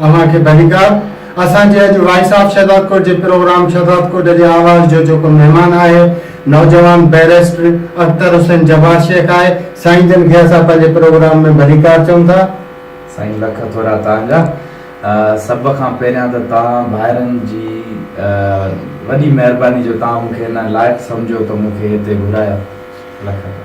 اوهان کي ڀليڪار. اسان جي اڄ وائس آف شهدادڪوٽ جي پروگرام شهدادڪوٽ جي آواز جو جيڪو مهمان آهي نوجوان بئريسٽر اختر حسين جبار شيخ آهي سائين جن کي اسان پنهنجي پروگرام ۾ ڀليڪار چئون ٿا. سائين لک ٿورا توهان جا. سڀ کان پهريان ته توهان ڀائرن جي وڏي مهرباني جو توهان مون کي ان لائق سمجهيو ته مون کي هتي گهرايو. لک ٿورا.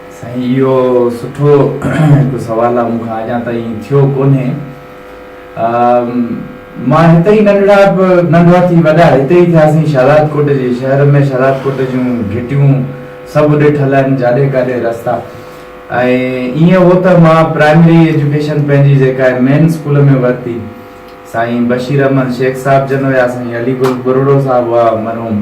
سائين اهو سٺو هڪ سوال آ مون کان اڄان تائين ٿيو ڪونهي مان هتي ئي ننڍڙا ننڍا ٿي وڏا هتي ئي ٿياسين شهداد ڪوٽ جي شهر ۾ شهداد ڪوٽ جون گهٽيون سڀ ڏٺل آهن جاڏي ڪاڏي رستا ۽ ايئن هو ته مان پرائمري ايجوڪيشن پنهنجي جيڪا آهي مين اسڪول ۾ ورتي سائين بشير احمد شيخ صاحب جن هيا سائين علي گل ٻرڙو صاحب هئا مرحوم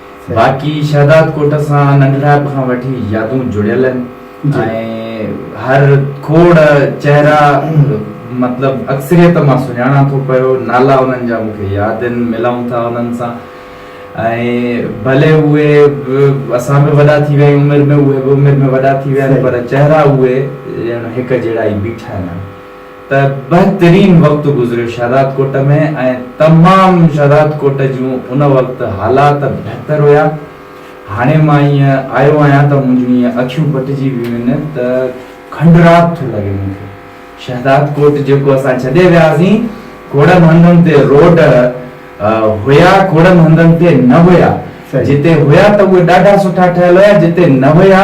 باقي شهداد ڪوٽ سان ننڍڙائپ کان وٺي يادون جڙيل آهن ۽ هر کوڙ چهرا مطلب اڪثريت مان سڃاڻان ٿو پيو، نالا انهن جا مون کي ياد آهن، ملون ٿا انهن سان ۽ ڀلي اهي اسان به وڏا ٿي ويا آهيون عمر ۾ اهي به عمر ۾ وڏا ٿي ويا آهن پر چهرا اهي ڄڻ هڪ جهڙا ئي بيٺا آهن ته بهترين وقت گذريو شهداد ڪوٽ ۾ ۽ تمام شهداد ڪوٽ جون ان وقت حالات بهتر هيا هاڻي مان ائين آيو آهيان ته منهنجون ائين اکيون پٽجي ويون آهن ته کنڊرات ٿو لڳي مون کي شهداد ڪوٽ جيڪو اسان ڇڏي وياسين ڪوڙن هنڌن تي روڊ هيا ڪوڙن هنڌن تي نه هيا جتي هيا ته اهي ڏاڍا سٺا ٺهيل هيا جتي نه هيا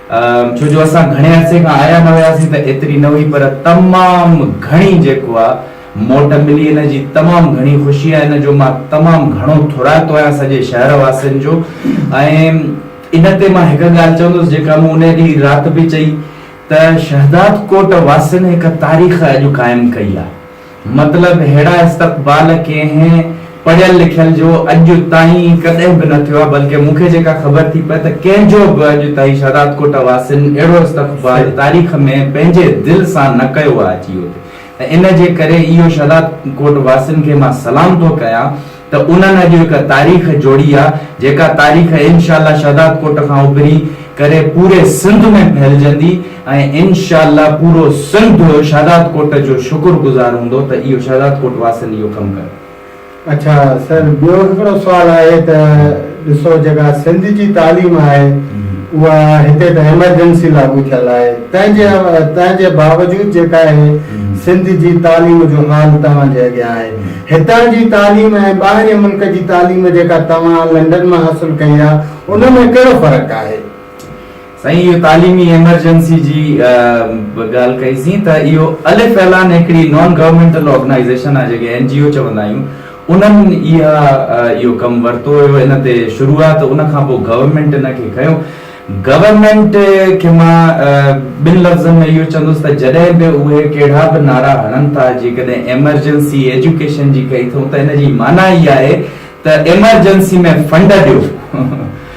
ڇو جو اسان گهڻي عرصي کان آيا نه هياسين ته ايتري نه هئي پر تمام گهڻي جيڪو آ موٽ ملي ان جي تمام گهڻي خوشي آ ان جو مان تمام گهڻو ٿورائتو آهيان سڄي شهر واسين جو ۽ ان تي مان هڪ ڳالهه چوندس جيڪا مون انهي ڏينهن رات به چئي ته شهدادڪوٽ واسين هڪ تاريخ اڄ قائم ڪئي آ. مطلب اهڙا استقبال ڪنهن پڙهيل لکيل جو اڄ تائين ڪڏهن به نه ٿيو آهي بلڪه مون کي جيڪا خبر ٿي پئي ته ڪنهن جو به اڄ تائين شهدادڪوٽ واسين اهڙو استقبال تاريخ ۾ پنهنجي دل سان نه ڪيو آهي اچي هتي ۽ ان جي ڪري اهو شهدادڪوٽ واسين کي مان سلام ٿو ڪيان ته انهن اڄ هڪ تاريخ جوڙي آ جيڪا تاريخ انشاء الله شهداد ڪوٽ کان اڀري ڪري پوري سنڌ ۾ ڦهلجندي ۽ انشاء الله پورو سنڌ شهداد ڪوٽ جو شڪر گذار هوندو ته اهو شهداد ڪوٽ واسين اهو ڪم ڪيو. اڇا سر ٻيو هڪڙو سوال آهي ته. ڏسو جيڪا سنڌ جي تعليم آهي اها هتي ته ايمرجنسي لاڳو ٿيل آهي تنهن جي تنهن جي باوجود جيڪا آهي سنڌ جي تعليم جو حال توهان جي اڳيان آهي هتان جي تعليم ۽ ٻاهرين ملڪ جي تعليم جيڪا توهان لنڊن مان حاصل ڪئي آهي ان ۾ ڪهڙو فرق آهي. سائين اهو تعليمي ايمرجنسي جي به ڳالهه ڪئي سين ته اهو الف اعلان هڪڙي نان گورنمينٽل آرگنائيزيشن آهي جنهنکي اين جي او چوندا آهيون انهن اها اهو ڪم ورتو هيو ان تي شروعات ان کان پوء گورنمينٽ ان کي کنيو گورنمينٽ کي مان ٻن لفظن ۾ اهو چوندس ته جڏهن به اهي ڪهڙا به نعرا هڻن ٿا جيڪڏهن ايمرجنسي ايجوڪيشن جي ڪئي ٿئون ته ان جي معنيٰ اها آهي ته ايمرجنسي ۾ فنڊ ڏيو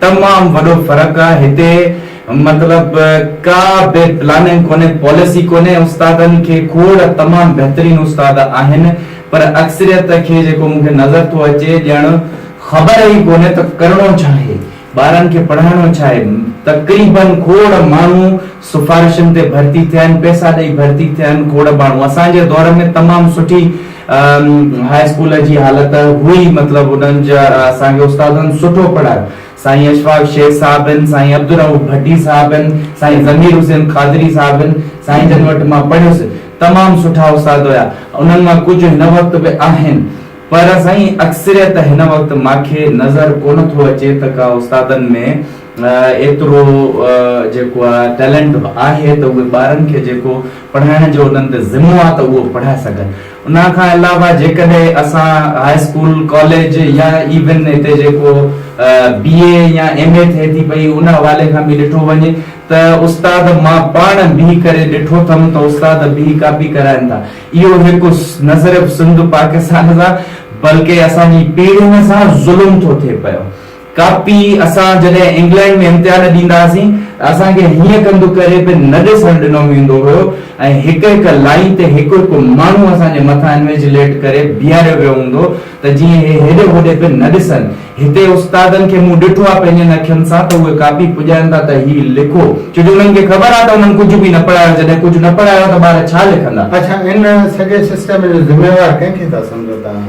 تمام وڏو فرق آ هتي مطلب ڪا به پلاننگ ڪونهي پاليسي ڪونهي استادن کي کوڙ تمام بهترين استاد آهن پر اڪثريت کي جيڪو مون کي نظر ٿو اچي ڄڻ خبر ئي ڪونهي ته ڪرڻو ڇا آهي ٻارن کي پڙهائڻو ڇا آهي تقريبن کوڙ ماڻهو سفارشن تي ڀرتي ٿيا آهن، پئسا ڏئي ڀرتي ٿيا آهن کوڙ ماڻهو. اسان جي دور ۾ تمام سٺي هاء اسڪول جي حالت هئي، مطلب انهن جا اسان کي استادن سٺو پڙهايو. سائين اشفاق شيخ صاحب هن، سائين عبدالرئوف ڀٽي صاحب هن، سائين ضمير حسين قادري صاحب هن، سائين جن وٽ مان پڙهيس، تمام سٺا استاد هيا. انهن مان ڪجهه هن وقت به آهن، پر سائين اڪثريت هن وقت ماکي نظر ڪونه ٿو اچي ته ڪا استادن ۾ ايترو جيڪو آ ٽيلنٽ به آهي ته اهي ٻارن کي جيڪو پڙهائڻ جو انهن تي ذمو آ ته اهو پڙهائي سگهن ان کان علاوه جيڪڏهن اسان هاء اسڪول ڪاليج يا ايون هتي جيڪو بي اي يا ايم اي ٿئي ٿي پئي ان حوالي کان به ڏٺو وڃي ته استاد مان پاڻ بيهي ڪري ڏٺو ٿم ته استاد بيهي ڪاپي ڪرائن ٿا اهو هڪ نه صرف سنڌ پاڪستان سان بلڪه اسان جي پيڙهين سان ظلم ٿو ٿئي پيو ڪاپي اسان جڏهن انگلينڊ ۾ امتحان ڏيندا هئاسين ته اسان کي هيئن ڪنڌ ڪري به نه ڏسڻ ڏنو ويندو هيو ۽ هڪ هڪ لائين تي هڪ هڪ ماڻهو اسان جي مٿان انويجليٽ ڪري بيهاريو ويو هوندو ته جيئن هي هيڏي هوڏي به نه ڏسن. هتي استادن کي مون ڏٺو آهي پنهنجن اکين سان ته اهي ڪاپي پڄائين ٿا ته هي لکو ڇو جو انهن کي خبر آهي ته انهن ڪجهه به نه پڙهايو جڏهن ڪجهه نه پڙهايو ته ٻار ڇا لکندا. اڇا ان سڄي سسٽم جو ذميوار ڪنهن کي ٿا سمجهو توهان؟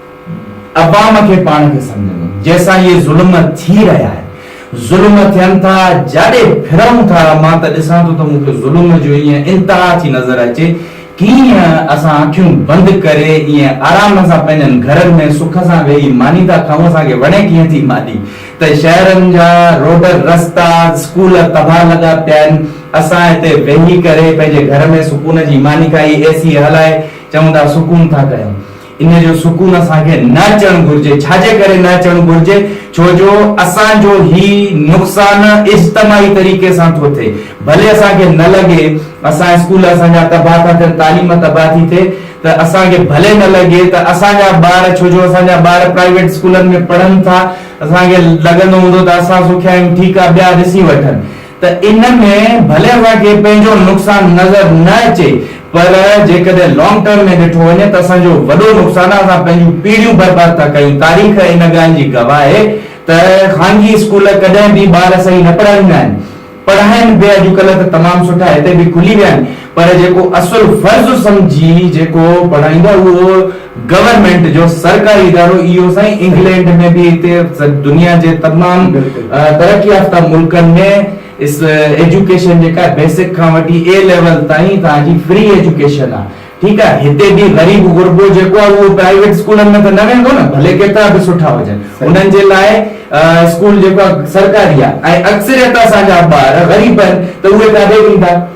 عوام کي پاڻ کي سمجهندو جيسان اهي ظلم ٿي رهيا آهن ظلم ٿين ٿا جاڏي ڦرون ٿا مان ته ڏسان ٿو ته مون کي ظلم جو ايئن انتها ٿي نظر اچي ڪيئن اسان اکيون بند ڪري ايئن آرام سان پنهنجن گهرن ۾ سک سان ويهي ماني ٿا کائون اسان کي وڻي ڪيئن ٿي ماني ته شهرن جا روڊ رستا اسڪول تباهه لڳا پيا آهن اسان هتي ويهي ڪري پنهنجي گهر ۾ سڪون جي ماني کائي اي سي هلائي چون ٿا سڪون ٿا ڪيون ان جو سڪون اسان کي نه اچڻ گهرجي، ڇا جي ڪري نه اچڻ گهرجي؟ ڇو جو اسان جو هي نقصان اجتماعي طريقي سان ٿو ٿئي، ڀلي اسان کي نه لڳي، اسان اسڪول اسان جا تباهه ٿا ٿين، تعليم تباهه ٿي ٿئي ته اسان کي ڀلي نه لڳي ته اسان جا ٻار، ڇو جو اسان جا ٻار پرائيويٽ اسڪولن ۾ پڙهن ٿا، اسان کي لڳندو هوندو ته اسان سکيا آهيون، ٺيڪ آهي ٻيا ڏسي وٺن. ته ان ۾ ڀلي اوهان کي پنهنجو نقصان نظر نه اچي پر جيڪڏهن لانگ ٽرم ۾ ڏٺو وڃي ته اسان جو وڏو نقصان آهي اسان پنهنجون پيڙهيون برباد ٿا ڪيون تاريخ ان ڳالهه جي گواهه آهي ته خانگي اسڪول ڪڏهن به ٻار صحيح نه پڙهائيندا آهن پڙهائن به اڄڪلهه ته تمام سٺا هتي به کلي ويا آهن پر جيڪو اصل فرض سمجهي جيڪو پڙهائيندو اهو گورنمينٽ جو سرڪاري ادارو اهو سائين انگلينڊ ۾ به هتي دنيا جي تمام ترقي يافته ملڪن ۾ ايجوڪيشن جيڪا بيسڪ کان وٺي اي ليول تائين توهان جي فري ايجوڪيشن آهي ٺيڪ آهي هتي به غريب غربو جيڪو آهي اهو پرائيويٽ اسڪولن ۾ ته نه ويندو نه ڀلي ڪيترا به سٺا هجن انهن جي لاء اسڪول جيڪو آهي سرڪاري آهي ۽ اڪثريت اسان جا ٻار غريب آهن ته اهي ڪاڏي ويندا.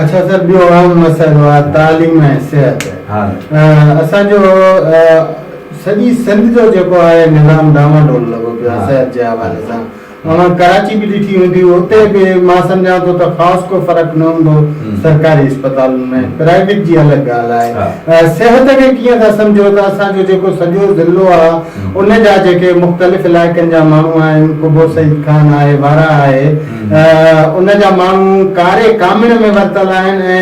اڇا سر ٻيو اهم مسئلو آهي تعليم ۽ صحت اسان جو سڄي سنڌ جو جيڪو آهي نظام ڊانوا ڊول لڳو پيو آهي صحت جي حوالي سان اوهان ڪراچي به ڏٺي هوندي اتي به مان سمجهان ٿو ته خاص ڪو فرق نه هوندو سرڪاري اسپتالن ۾ پرائيويٽ جي الڳ ڳالهه آهي صحت کي ڪيئن ٿا سمجهو ته اسان جو جيڪو سڄو ضلعو آهي ان جا جيڪي مختلف علائقن جا ماڻهو آهن قبو سعيد خان آهي وارا آهي ان جا ماڻهو ڪاري ڪامڻ ۾ ورتل آهن ۽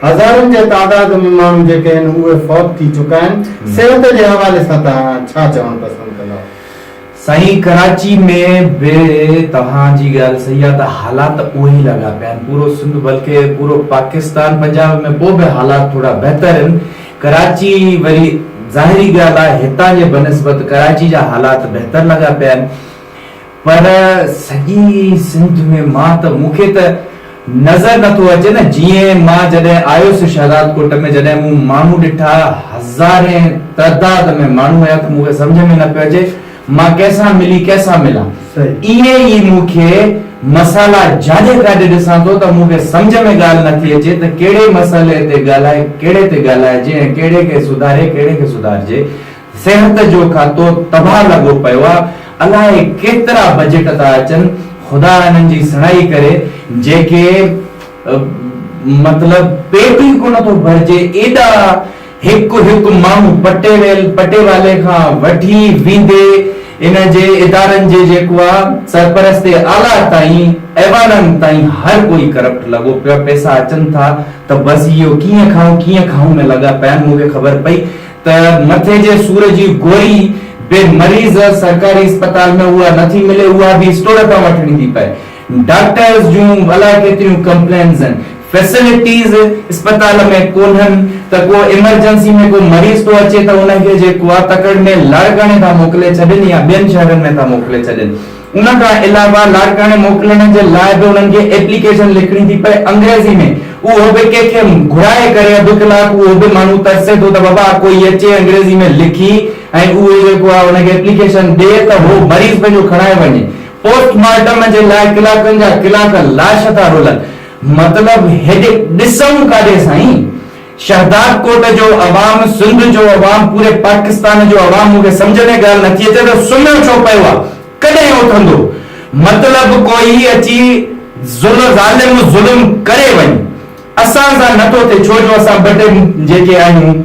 هزارن جي تعداد ۾ ماڻهو جيڪي آهن اهي فوت ٿي چڪا آهن، صحت جي حوالي سان توهان ڇا چوڻ پسند ڪندا؟ سائين ڪراچي ۾ به توهان جي ڳالهه صحيح آهي ته حالات اهي ئي لڳا پيا آهن پورو سنڌ بلڪه پورو پاڪستان پنجاب ۾ پوء به حالات ٿورا بهتر آهن ڪراچي وري ظاهري ڳالهه آهي هتان جي بنسبت ڪراچي جا حالات بهتر لڳا پيا آهن پر سڄي سنڌ ۾ مان ته مون کي ته نظر نه ٿو اچي نه جيئن مان جڏهن آيس شهدادڪوٽ ۾ جڏهن مون ماڻهو ڏٺا هزارين تعداد ۾ ماڻهو هيا ته مون کي سمجهه ۾ نه پيو اچي مان ڪنهن سان ملي ڪنهن سان ملان ايئن ئي مون کي مسئلا جاڏي ڪاڏي ڏسان ٿو ته مون کي سمجهه ۾ ڳالهه نه ٿي اچي ته ڪهڙي مسئلي تي ڳالهائي ڪهڙي تي ڳالهائجي ۽ ڪهڙي کي سڌاري ڪهڙي کي سڌارجي صحت جو کاتو تباھ لڳو پيو آ الائي ڪيترا بجيٽ ٿا اچن خدا انهن جي سڻائي ڪري جيڪي مطلب پيٽ ئي ڪونه ٿو ڀرجي ايڏا هڪ هڪ ماڻهو پٽي ويل پٽي والي کان وٺي ويندي ان جي ادارن جي جيڪو آ سرپرست اعليٰ تائين ايوانن تائين هر ڪوئي ڪرپٽ لڳو پيو آ پيسا اچن ٿا ته بس اهو ڪيئن کائون ڪيئن کائون ۾ لڳا پيا آهن مون کي خبر پئي ته مٿي جي سور جي گوري به مريض سرڪاري اسپتال ۾ اها نه ٿي ملي اها به اسٽور تان وٺڻي ٿي پئي ڊاڪٽرز جون الاء ڪيتريون ڪمپلينز آهن فيسلٽيز اسپتال ۾ ڪونهن ته ڪو ايمرجنسي ۾ ڪو مريض ٿو اچي ته ان کي جي ڪواتڪڙ ۾ لاڙڪاڻي ٿا موڪلي ڇڏين يا ٻين شهرن ۾ ٿا موڪلي ڇڏين ان کان علاوه لاڙڪاڻي موڪلڻ جي لاء به انهن کي ايپليڪيشن لکڻي ٿي پئي انگريزي ۾ اهو به ڪنهن کي گهرائي ڪري اڌ ڪلاڪ اهو به ماڻهو ترسي ٿو ته بابا ڪوئي اچي انگريزي ۾ لکي ۽ اهو جيڪو آهي ان کي ايپليڪيشن ڏي ته هو مريض پنهنجو کڻائي وڃي پوسٽ مارٽم جي لاء ڪلاڪن جا ڪلاڪ لاش ٿا رولن مطلب هيڏي ڏسون ڪاڏي سائين. شهدادڪوٽ جو عوام، سنڌ جو عوام، پوري پاڪستان جو عوام مون کي سمجهه ۾ ڳالهه نٿي اچي ته سمهيو ڇو پيو آ؟ ڪڏهن اٿندو؟ مطلب ڪوئي اچي ظلم ظلم ڪري وڃي اسان سان نٿو ٿئي ڇو جو اسان ٻه ٽي جيڪي آهيون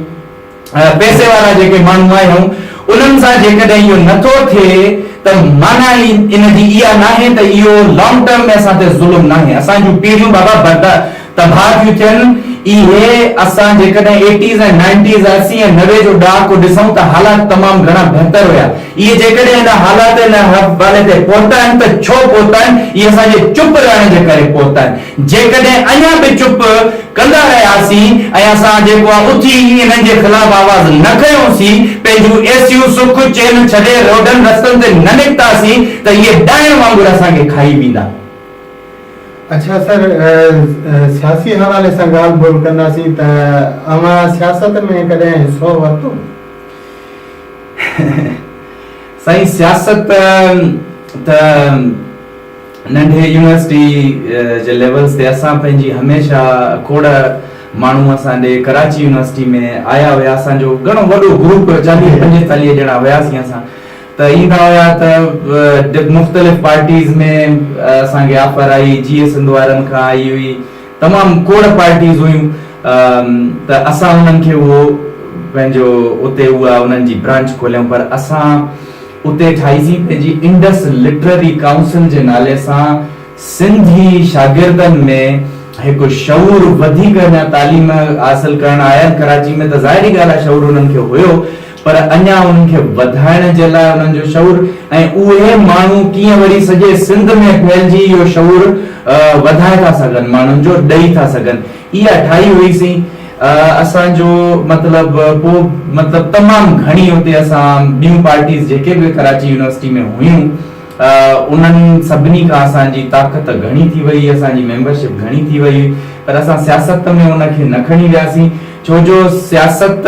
پئسي وارا جيڪي ماڻهو آهيون انهن سان جيڪڏهن اهو نٿو ٿئي ته معنيٰ ئي ان جي اها ناهي ته اهو لانگ ٽرم ۾ اسان تي ظلم ناهي اسان جون پيڙهيون بابا بردا تباهه ٿيون ٿين. اهي اسان جيڪڏهن ايٽيز ۽ نائنٽيز، اسي ۽ نوي جو ڏهاڪو ڏسون ته حالات تمام گهڻا بهتر هيا. اهي جيڪڏهن ان حالات ان حوالي تي پهتا آهن ته ڇو پهتا آهن؟ اهي اسان جي چپ رهڻ جي ڪري پهتا آهن. جيڪڏهن اڃا به چپ ڪندا رهياسين ۽ اسان جيڪو آهي اٿي انهن جي خلاف آواز نه کنيوسين، پنهنجون اي سيون سک چين ڇڏي روڊن رستن تي نه نڪتاسين ته اهي ڏائڻ وانگر اسان کي کائي ويندا. اڇا سر، سياسي حوالي سان ڳالهه ٻولهه ڪنداسين ته اوهان سياست ۾ ڪڏهن حصو ورتو؟ سائين سياست ته ننڍي يونيورسٽي جي ليولز تي اسان پنهنجي هميشه کوڙ ماڻهو اسان ڏي ڪراچي يونيورسٽي ۾ آيا هيا اسان جو گهڻو وڏو گروپ چاليهه پنجيتاليهه ڄڻا هياسين اسان ته ايندا هيا ته ڊپ مختلف پارٽيز ۾ اسان کي آفر آئي جيئي سنڌ وارن کان آئي هئي تمام کوڙ پارٽيز هيون ته اسان انهن کي اهو پنهنجو اتي اها انهن جي برانچ کوليون پر اسان اتي ٺاهي سين پنهنجي انڊس لٽرري ڪائونسل جي نالي سان سنڌي شاگردن ۾ هڪ شعور وڌيڪ اڃا تعليم حاصل ڪرڻ آيا آهن ڪراچي ۾ ته ظاهري ڳالهه آهي شعور انهن کي هيو پر اڃا انهن کي وڌائڻ جي لاء انهن جو شعور ۽ اهي ماڻهو ڪيئن وري سڄي سنڌ ۾ ڦهلجي اهو شعور وڌائي ٿا سگهن ماڻهن جو ڏئي ٿا سگهن اها ٺاهي هئي سين اسان جو مطلب پوء مطلب تمام گهڻي اتي اسان ٻيون پارٽيز جيڪي به ڪراچي يونيورسٽي ۾ هيون انهن سڀني کان اسان جي طاقت گهڻي ٿي وئي اسان جي ميمبرشپ گهڻي ٿي وئي پر اسان سياست ۾ ان کي نه کڻي وياسين ڇو جو سياست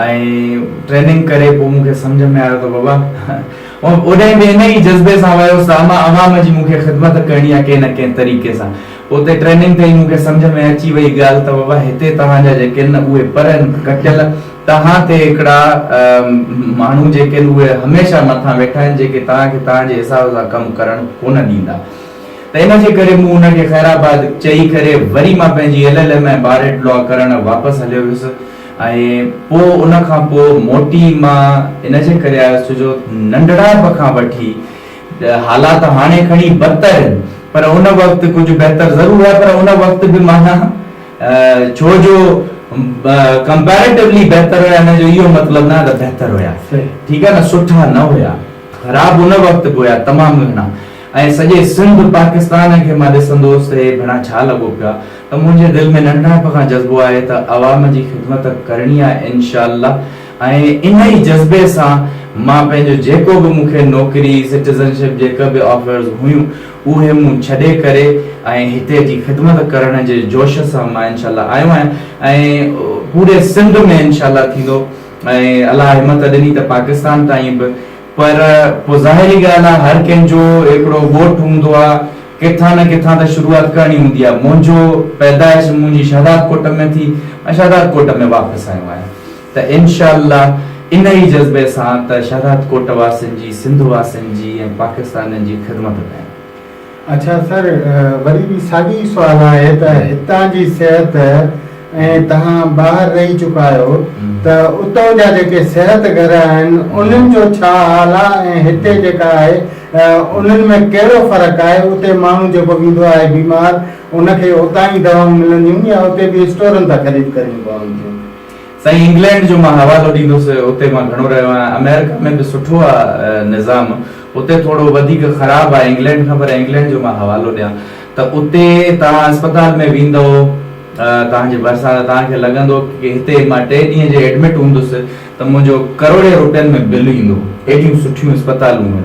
۽ ٽريننگ ڪري پوء مون کي سمجهه ۾ آيو ته بابا ۽ اوڏانهن به انهيء ئي جذبي سان ويس ته امان عوام جي مون کي خدمت ڪرڻي آهي ڪنهن نه ڪنهن طريقي سان. اتي ٽريننگ ٿي مون کي سمجهه ۾ اچي وئي ڳالهه ته بابا هتي توهان جا جيڪي آهن نه اهي پر آهن ڪٽيل توهان تي هڪڙا ماڻهو جيڪي آهن اهي هميشه مٿان ويٺا آهن جيڪي توهان کي توهان جي حساب سان ڪم ڪرڻ ڪونه ڏيندا ته ان جي ڪري مون ان کي خيرآباد چئي ڪري وري مان پنهنجي L L M ۽ bar at law ڪرڻ واپس هليو ويس. ۽ پوء ان کان پوء موٽي مان ان جي ڪري آيس ڇو جو ننڍڙائپ کان وٺي حالات هاڻي کڻي بدتر آهن پر ان وقت ڪجهه بهتر ضرور هئا پر ان وقت به معنيٰ ڇو جو ڪمپيريٽوولي بهتر هيا ان جو اهو مطلب نه ته بهتر هيا ٺيڪ آهي نه سٺا نه هيا خراب ان وقت به هيا تمام گهڻا ۽ سڄي سنڌ پاڪستان کي مان ڏسندو هوس ته هي ڀيڻا ڇا لڳو پيا ته منهنجي دل ۾ ننڍڻپ کان جذبو آهي ته عوام جي خدمت ڪرڻي آهي انشاء الله ۽ ان ئي جذبي سان مان پنهنجو جيڪو به مون کي نوڪري سٽيزن شپ جي ڪه به آفرز هيون اهي مون ڇڏي ڪري ۽ هتي جي خدمت ڪرڻ جي جوش سان مان انشاء الله آيو آهيان ۽ پوري سنڌ ۾ انشاء الله ٿيندو ۽ الله همت ڏني ته پاڪستان تائين به پر پوء ظاهري ڳالهه آ هر ڪنهن جو هڪڙو ڳوٺ هوندو آ ڪٿان نه ڪٿان ته شروعات ڪرڻي هوندي آ منهنجو پيدائش منهنجي شهداد ڪوٽ ۾ ٿي مان شهداد ڪوٽ ۾ واپس آيو آهيان ته انشاء الله ان ئي جذبي سان ته شهداد ڪوٽ واسين جي سنڌ واسين جي ۽ پاڪستانين جي خدمت ڪيان. اڇا سر وري به ساڳيو ئي سوال آهي ته هتان جي صحت ۽ توهان ٻاهر رهي چڪا آهيو ته اتو جا جيڪي صحت گهر آهن انهن جو ڇا حال آهي ۽ هتي جيڪا آهي انهن ۾ ڪهڙو فرق آهي اتي ماڻهو جيڪو ويندو آهي بيمار ان کي اتان ئي دوائون ملنديون يا اتي به اسٽورن تان خريد ڪرڻيون پون ٿيون. سائين انگلينڊ جو مان حوالو ڏيندس اتي مان گهڻو رهيو آهيان امريڪا ۾ به سٺو آ نظام اتي ٿورو وڌيڪ خراب آ انگلينڊ کان پر انگلينڊ جو مان حوالو ڏيان ته اتي توهان اسپتال ۾ ويندئو توهان جي ڀرسان توهان کي لڳندو ڪي هتي مان ٽي ڏينهن جي ايڊمٽ هوندس ته منهنجو ڪروڙين روپين ۾ بل ايندو ايڏيون سٺيون اسپتالون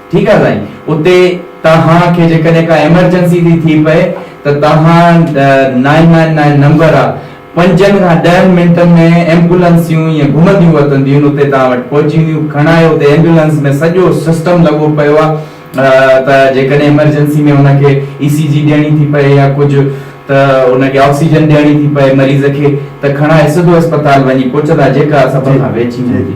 ٺيڪ آ سائين اتي توهان کي جيڪڏهن ڪا ايمرجنسي ٿي ٿي پئي ته توهان نائن نائن نائن نمبر آ پنجن کان ڏهن منٽن ۾ ايمبولنسيون ائين گهمنديون وتنديون اتي توهان وٽ پهچي وينديون کڻائي اتي ايمبولنس ۾ سڄو سسٽم لڳو پيو آ ته جيڪڏهن ايمرجنسي ۾ ان کي اي سي جي ڏيڻي ٿي پئي يا ڪجهه ته ان کي آڪسيجن ڏيڻي ٿي پئي مريض کي ته کڻائي سڌو اسپتال وڃي پهچندا جيڪا سڀ کان ويجهي هوندي.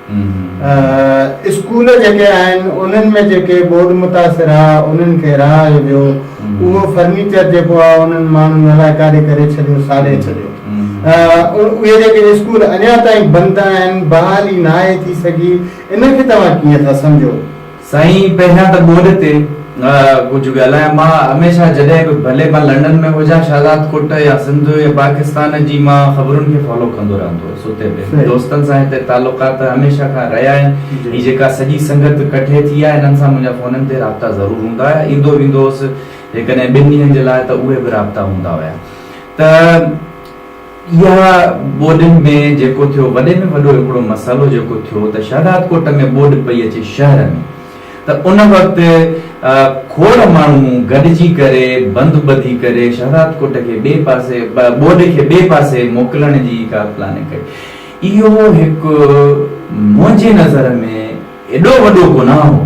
اسڪول جيڪي آهن انهن ۾ جيڪي ٻوڏ متاثر آ انهن کي رهائي ويو اهو فرنيچر جيڪو آ انهن ماڻهن الائي ڪاڏي ڪري ڇڏيو ساڙي ڇڏيو اهي جيڪي اسڪول اڃا تائين بند آهن بحالي ناهي ٿي سگهي ان کي توهان ڪيئن ٿا سمجهو. سائين پهريان ته ٻوڏ تي ڪجهه ڳالهايان. مان هميشه جڏهن به ڀلي مان لنڊن ۾ هجان شهزاد ڪوٽ يا سنڌ يا پاڪستان جي مان خبرن کي فالو ڪندو رهندو هوس اتي به دوستن سان هتي تعلقات هميشه کان رهيا آهن هي جيڪا سڄي سنگت ڪٺي ٿي آهي هنن سان منهنجا فونن تي رابطا ضرور هوندا هيا ايندو ويندو هوس جيڪڏهن ٻن ڏينهن جي لاء ته اهي به رابطا هوندا هيا ته اها ٻوڏن ۾ جيڪو ٿيو وڏي ۾ وڏو هڪڙو مسئلو جيڪو ٿيو ته شهدادڪوٽ ۾ ٻوڏ پئي اچي شهر ۾ ته ان وقت کوڙ ماڻهو گڏجي ڪري بند ٻڌي ڪري شهدادڪوٽ کي ٻئي پاسي ٻوڏ کي ٻئي پاسي موڪلڻ جي ڪا پلاننگ ڪئي اهو هڪ منهنجي نظر ۾ ايڏو وڏو گناهه هو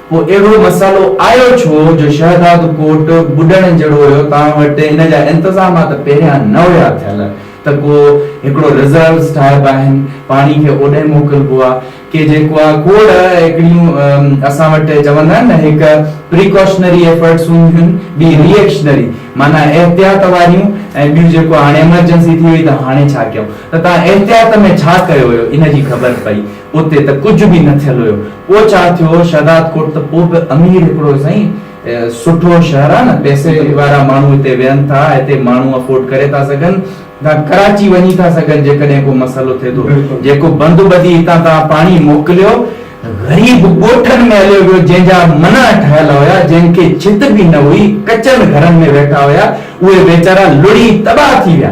پوء اهڙو مسئلو آيو ڇو جو شهداد ڪوٽ ٻڏڻ جهڙو هيو، توهان وٽ ان جا انتظامات پهريان نه هيا ٿيل ته ڪو هڪڙو رزروز ٺاهبا آهن، پاڻي کي اوڏي موڪلبو آ، ڪي جيڪو آ کوڙ هڪڙيون اسان وٽ چوندا آهن نه هڪ پريڪاشنري ايفرٽس هونديون آهن، ٻي ري ايڪشنري معنيٰ احتياط واريون ۽ ٻيون جيڪو هاڻي ايمرجنسي ٿي وئي ته هاڻي ڇا ڪيون ته توهان احتياط ۾ ڇا ڪيو هيو ان جي خبر پئي. اتي ته ڪجهه به نه ٿيل هيو. پوء ڇا ٿيو؟ شهداد ڪوٽ ته پوء به امير هڪڙو سائين سٺو شهر آ نه، پئسي وارا ماڻهو هتي ويهن ٿا، هتي ماڻهو افورڊ ڪري ٿا سگهن، تان ڪراچي وڃي ٿا سگهن جيڪڏهن ڪو مسئلو ٿئي ٿو. جيڪو بند ٻڌي هتان تان پاڻي موڪليو، غريب ڳوٺن ۾ هليو ويو، جنهن جا منع ٺهيل هيا، جنهن کي ڇت به نه هئي، ڪچن گهرن ۾ ويٺا هيا، اهي ويچارا لڙهي تباهه ٿي ويا.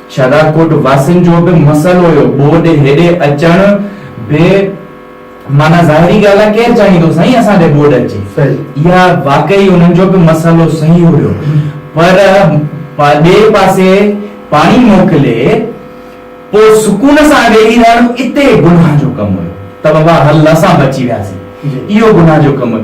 شهدادڪوٽ واسين جو به مسئلو هيو، ٻوڏ هيڏي اچڻ به معنيٰ ظاهري ڳالهه آهي ڪير چاهيندو سائين اسان ڏي ٻوڏ اچي، اها واقعي انهن جو به مسئلو صحيح هيو پر ٻئي پاسي پاڻي موڪلي پوء سڪون سان ويهي رهڻ اتي گناهه جو ڪم هيو ته بابا هل اسان بچي وياسين اهو گناهه جو ڪم هيو.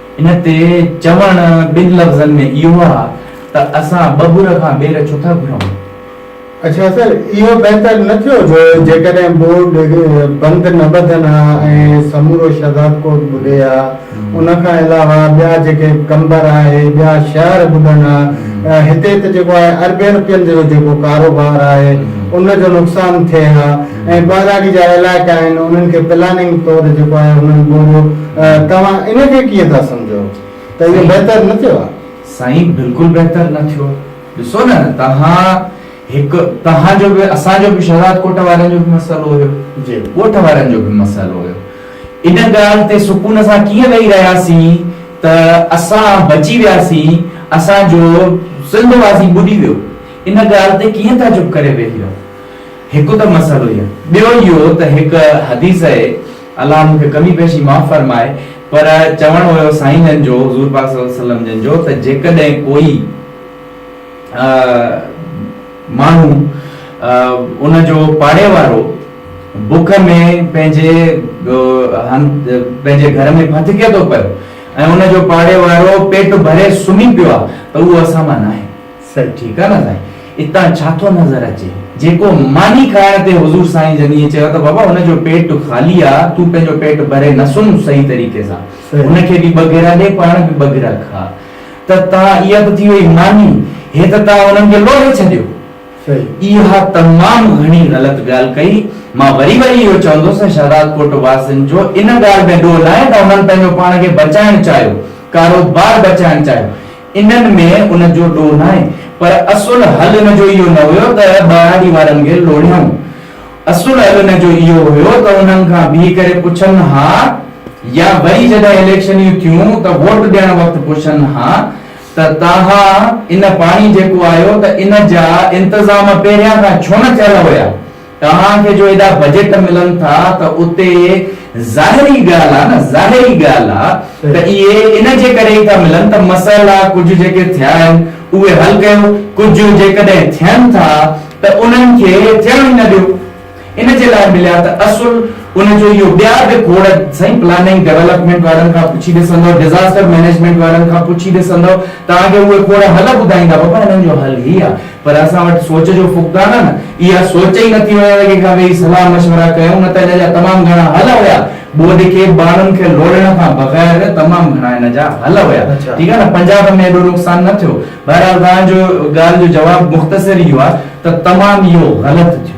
ان تي چوڻ ٻن لفظن ۾ اهو آ ته اسان ٻٻر کان ٻير ڇو ٿا گهرون؟ اڇا سر، اهو بهتر نه ٿيو جو جيڪڏهن بورڊ بند نه ٻڌن ها ۽ سمورو شهزاد ڪوٽ ٻڏي ها، ان کان علاوه ٻيا جيڪي قمبر آهي، ٻيا شهر ٻڏن ها، هتي ته جيڪو آهي اربين رپين جو جيڪو ڪاروبار آهي ان جو نقصان ٿئي ها ۽ ٻهراڙي جا علائقا آهن انهن کي پلاننگ طور جيڪو آهي انهن ٻوريو توهان ان کي ڪيئن ٿا سمجهو ته اهو بهتر نه ٿيو آهي؟ سائين بلڪل بهتر نه ٿيو ڏسو نه توهان هڪ توهان جو به اسان جو به شهزاد ڪوٽ وارن جو به مسئلو هيو ڳوٺ وارن جو به مسئلو هيو ان ڳالهه تي سڪون سان ڪيئن ويهي رهياسين ته اسان بچي وياسين اسان جو سنڌ واسي ٻڏي ويو ان ڳالهه تي ڪيئن ٿا چپ ڪري ويهي رهو هڪ ته مسئلو هي ٻيو اهو ته هڪ حديث اهي. الله مون کي ڪمي پيشي معاف فرمائي پر چوڻ هيو سائين جن جو حضور پاڪ صلي الله عليه وسلم جن جو ته جيڪڏهن ڪوئي ماڻهو ان جو پاڙي وارو بک ۾ پنهنجي پنهنجي گهر ۾ ڦٿڪي ٿو پيو ۽ ان جو پاڙي وارو پيٽ ڀري سمهي پيو آهي ته اهو اسان مان ناهي. سر ٺيڪ آ نه سائين اتان ڇا ٿو نظر اچي جيڪو ماني کائڻ تي حضور سائين جن ائين چيو ته بابا ان جو پيٽ خالي آ تون پنهنجو پيٽ ڀري نه سمهه صحيح طريقي سان ان کي به ٻه گيرا ڏي پاڻ به ٻه گيرا کا ته تان اها به ٿي وئي ماني هي ته تان انهن کي لوڙهي ڇڏيو اها تمام گهڻي غلط ڳالهه ڪئي مان وري وري اهو چوندس ۽ شهدادڪوٽ واسين جو ان ڳالهه ۾ ڏوهه ناهي ته انهن پنهنجو پاڻ کي بچائڻ چاهيو ڪاروبار بچائڻ چاهيو انهن ۾ ان جو ڏوهه ناهي پر اصل حل ان جو اهو نه هيو ته ٻهراڙي وارن کي لوڙهيائون. اصل حل ان جو اهو هيو ته انهن کان بيهي ڪري پڇن ها يا وري جڏهن اليڪشنيون ٿيون ته ووٽ ڏيڻ وقت پڇن ها ته توهان ان پاڻي جيڪو آيو ته ان جا انتظام پهريان کان ڇو نه ٿيل هيا؟ توهان کي جو ايڏا بجيٽ ملن ٿا ته اتي ظاهري ڳالهه آهي نه ظاهري ڳالهه آهي ته اهي ان جي ڪري ئي ٿا ملن ته مسئلا ڪجهه جيڪي ٿيا آهن اهي حل ڪيو ڪجهه جيڪڏهن ٿين ٿا ته انهن کي ٿيڻ ئي نه ڏيو ان جي لاء مليا ته اصل ان جو اهو ٻيا به کوڙ سائين پلاننگ ڊيولپمينٽ وارن کان پڇي ڏسندو ڊزاسٽر مينيجمينٽ وارن کان پڇي ڏسندو توهان کي اهي کوڙ حل ٻڌائيندا بابا انهن جو حل هي آهي. پر اسان وٽ سوچ جو فقدان آ نه اها سوچ ئي نٿي هئڻ ته ڪنهن کان ويهي صلاح مشورا ڪيون نه ته ان جا تمام گهڻا حل هيا ٻوڏ کي ٻانهن کي لوڙهڻ کان بغير تمام گهڻا ان جا حل هيا ٺيڪ آ نه پنجاب ۾ ايڏو نقصان نه ٿيو بهرحال توهان جو ڳالهه جو جواب مختصر اهو آ ته تمام اهو غلط ٿيو.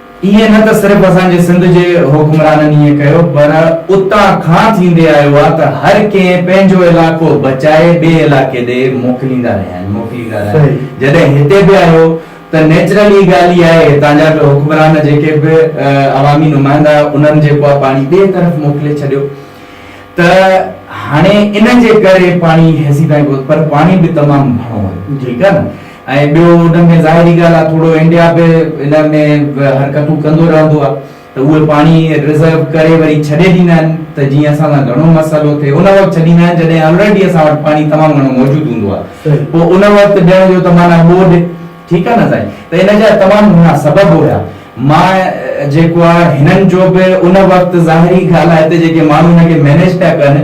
ايئن نه ته صرف اسان جي سنڌ جي حڪمرانن ايئن ڪيو پر اتان کان ٿيندي آيو آ ته هر ڪنهن پنهنجو علائقو بچائي ٻئي علائقي ڏي موڪليندا رهيا آهن موڪليندا رهيا آهن جڏهن هتي به آيو ته نيچرل هي ڳالهه ئي آهي هتان جا به حڪمران جيڪي به عوامي نمائندا انهن جيڪو آ پاڻي ٻئي طرف موڪلي ڇڏيو ته هاڻي ان جي ڪري پاڻي هيسي تائين پهتو پر پاڻي به تمام گهڻو هيو ٺيڪ آ نه ۽ ٻيو ان ۾ ظاهري ڳالهه آهي ٿورو انڊيا به ان ۾ حرڪتون ڪندو رهندو آهي ته اهي پاڻي ريزرو ڪري وري ڇڏي ڏيندا آهن ته جيئن اسان سان گهڻو مسئلو ٿئي ان وقت ڇڏيندا آهن جڏهن آلريڊي اسان وٽ پاڻي تمام گهڻو موجود هوندو آهي پوء ان وقت ڏيڻ جو ته معنيٰ ٻوڏ ٺيڪ آهي نه سائين ته ان جا تمام گهڻا سبب هيا مان جيڪو آهي هنن جو به ان وقت ظاهري ڳالهه آهي هتي جيڪي ماڻهو ان کي مينيج پيا ڪن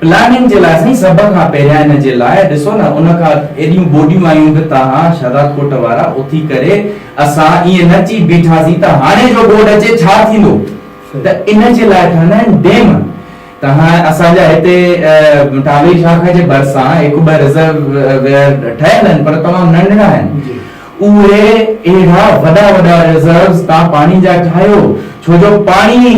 پلاننگ جي لازمي سڀ کان پهريان ان جي لاء ڏسو نه ان کان ايڏيون ٻوڏيون آيون به توهان شهدادڪوٽ وارا اٿي ڪري اسان ايئن نه چئي بيٺاسين ته هاڻي جو ٻوڏ اچي ڇا ٿيندو ته ان جي لاء ٺهندا آهن ڊيم توهان اسان جا هتي ٽاوي شاخ جي ڀرسان هڪ ٻه رزرويئر ٺهيل آهن پر تمام ننڍڙا آهن اهي اهڙا وڏا وڏا ريزروز تان پاڻي جا ٺاهيو ڇو جو پاڻي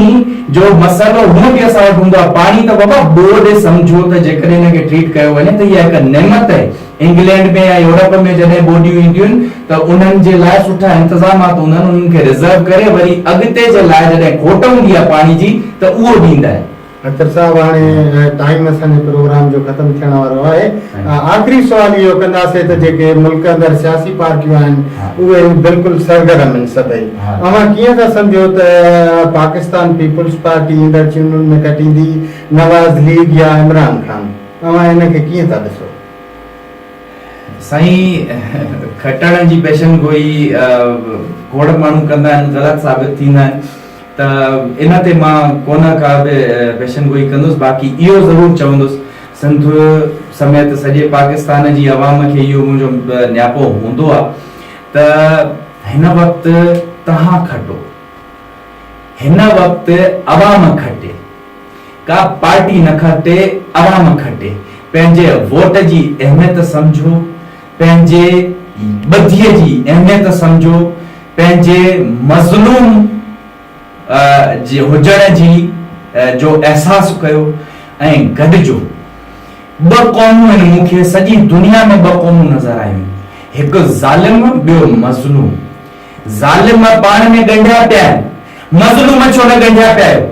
جو مسئلو هونء به اسان وٽ هوندو آهي پاڻي ته بابا ٻوڏ هي سمجهو ته جيڪڏهن ان کي ٽريٽ ڪيو وڃي ته اها هڪ نعمت آهي انگلينڊ ۾ يا يورپ ۾ جڏهن ٻوڏيون اينديون آهن ته انهن جي لاء سٺا انتظامات هوندا آهن انهن کي ريزرو ڪري وري اڳتي جي لاء جڏهن کوٽ هوندي آهي پاڻي جي ته اهو ڏيندا آهن. اختر صاحب هاڻي ٽائيم اسان جي پروگرام جو ختم ٿيڻ وارو آهي آخري سوال اهو ڪنداسين ته جيڪي ملڪ اندر سياسي پارٽيون آهن اهي بلڪل سرگرم آهن سڀئي اوهان ڪيئن ٿا سمجهو ته پاڪستان پيپلز پارٽي ايندڙ چونڊن ۾ کٽيندي نواز ليگ يا عمران خان اوهان ان کي ڪيئن ٿا ڏسو. سائين کٽڻ جي پيشن گوئي کوڙ ماڻهو ڪندا آهن غلط ثابت ٿيندا آهن. ته ان تي مان ڪونه ڪا به پيشن گوئي ڪندس باقي اهو ضرور چوندس سنڌ سميت سڄي پاڪستان جي عوام کي اهو منهنجو نياپو هوندو آ ته هن وقت توهان کٽو هن وقت عوام کٽي ڪا پارٽي نه کٽي عوام کٽي پنهنجي ووٽ جي اهميت سمجهو پنهنجي ٻڌيء جي اهميت سمجهو، پنهنجي مظلوم هجڻ جي جو احساس ڪيو ۽ گڏجو. ٻه قومون آهن، مون کي سڄي دنيا ۾ ٻه قومون نظر آيون، هڪ ظالم، ٻيو مظلوم. ظالم پاڻ ۾ ڳنڍيا پيا آهن، مظلوم ڇو نه ڳنڍيا پيا آهيو؟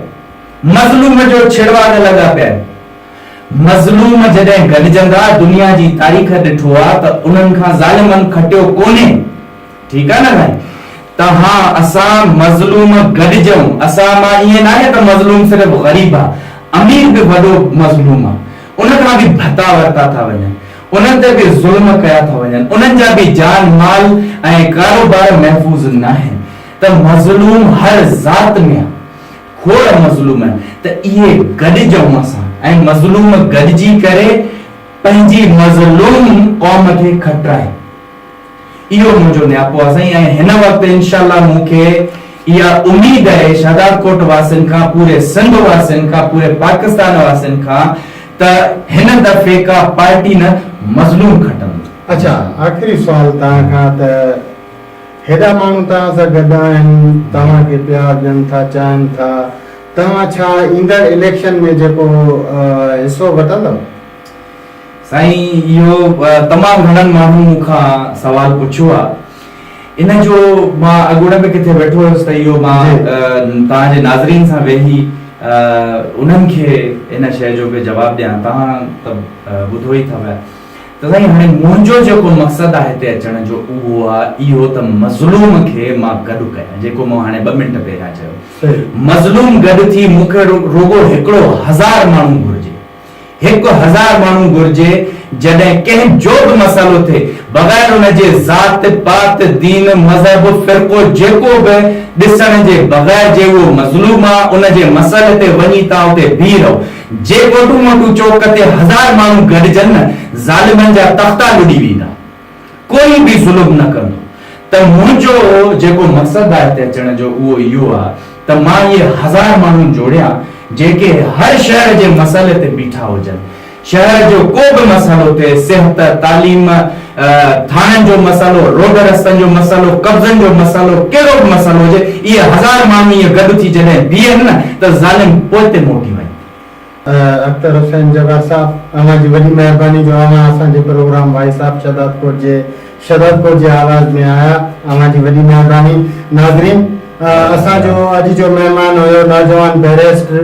مظلوم جو ڇڙواڳ لڳا پيا آهن، مظلوم جڏهن گڏجندا دنيا جي تاريخ ڏٺو آ ته انهن کان ظالمن کٽيو ڪونهي ٺيڪ آ نه سائين ته ها اسان مظلوم گڏجئون اسان مان ائين ناهي ته مظلوم صرف غريب آ امير به وڏو مظلوم آ ان کان به ڀتا ورتا ٿا وڃن انهن تي به ظلم ڪيا ٿا وڃن انهن جا به جان مال ۽ ڪاروبار محفوظ ناهن ته مظلوم هر ذات ۾ آ هوء مظلوم ته اهي گڏجئون اسان ۽ مظلوم گڏجي ڪري پنهنجي مظلوم قوم کي کٽرائي. اهو منهنجو نياپو آ سائين ۽ هن وقت انشاء الله مون کي اها اميد اهي شهدادڪوٽ واسين کان پوري سنڌ واسين کان پوري پاڪستان واسين کان ته هن دفعي ڪا پارٽي نه مظلوم کٽندو. اڇا آخري سوال توهان کان ته. هيڏا ماڻهو توهان سان گڏ آهن، توهان کي پيار ڏين ٿا، چاهن ٿا، توهان ڇا ايندڙ اليڪشن ۾ جيڪو حصو وٺندؤ؟ سائين اهو تمام گهڻن ماڻهن مون کان سوال پڇيو آ ان جو مان اڳوڻي به ڪٿي ويٺو هيس ته اهو مان توهان جي ناظرين سان ويهي انهن کي ان شئي جو به جواب ڏيان توهان ته ٻڌو ئي ٿا پيا ته سائين هاڻي منهنجو جيڪو مقصد آ هتي اچڻ جو اهو آ اهو ته مظلوم کي مان گڏ ڪيان جيڪو مون هاڻي ٻه منٽ پهريان چيو مظلوم گڏ ٿي مون کي رڳو هڪڙو هزار ماڻهو گهرجي هڪ هزار ماڻهو گهرجي جڏهن ڪنهن جو به مسئلو ٿئي بغير ان جي ذات پات دين مذهب فرقو جيڪو به ڏسڻ جي بغير جي اهو مظلوم آ ان جي مسئلي تي وڃي تان اتي بيهي رهو جي موٽو موٽو چوڪ تي هزار ماڻهو گڏجن نه ظالمن جا تختا لڏي ويندا. ڪوئي به ظلم نه ڪندو. ته منهنجو جيڪو مقصد آ هتي اچڻ جو اهو اهو آ ته مان اهي هزار ماڻهو جوڙيان جيڪي هر شهر جي مسئلي تي بيٺا هجن. شهر جو ڪو به مسئلو ٿئي صحت، تعليم، ٿاڻن جو مسئلو، روڊ رستن جو مسئلو، قبضن جو مسئلو، ڪهڙو به مسئلو هجي، اهي هزار ماڻهو ائين گڏ ٿي جڏهن بيهن نه ته ظالم پوئتي موٽي وڃن. اختر حسين جبار صاحب اوهان جي وڏي مهرباني جو اوهان اسان جي پروگرام وائس آف شھدادپور جي شھدادپور جي آواز ۾ آيا اوهان جي وڏي مهرباني ناظرين اسان جو اڄ جو مهمان هيو نوجوان بيريسٽر